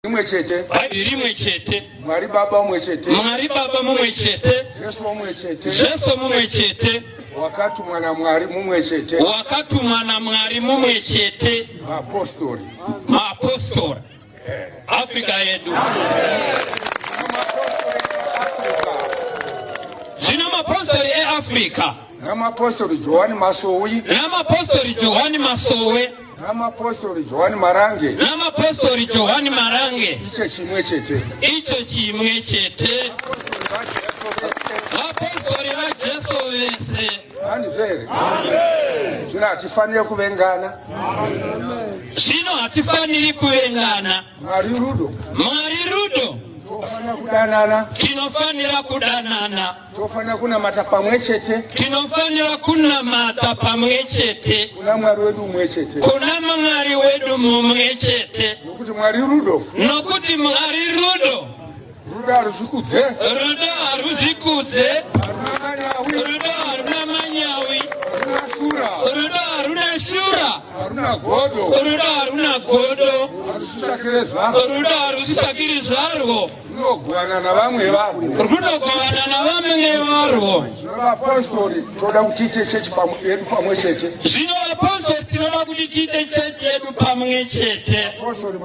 rimwe chete bhaibheri rimwe chete mwari baba umwe chete mwari baba mumwe chete jesu umwe chete jesu mumwe chete wakatumwa namwari mumwe chete wakatumwa namwari mumwe chete maapostori maapostori eh. afrika yedu zvino mapostori eafrica Ramapostori Johani Masowe. Ramapostori Johani Masowe. Ramapostori Johani Marange. Ramapostori Johani Marange. Icho chimwe chete. Icho chimwe chete. Vapostori vaJesu vese. Hanzvere. Zvino hatifanire kuvengana. Zvino hatifaniri kuvengana. Mwari rudo. Mwari rudo. Tinofanira kudanana. Tinofanira kudanana. Tinofanira kunamata pamwe chete. Tinofanira kunamata pamwe chete. Kuna Mwari wedu mumwe chete. Kuna Mwari wedu mumwe chete. Nokuti Mwari rudo. Nokuti Mwari rudo. Rudo haruzvikudze. Rudo haruzvikudze. Rudo haruna manyawi. Rudo haruna shura. Haruna godo. Rudo haruna godo. Rudo harusisakiri zvarwo. runogovana navamwe varwo runogovana navamwe varwo zvino vapostori tinoda kuti tiite chechi yedu pamwe chete zvino vapostori tinoda kuti tiite chechi yedu pamwe chete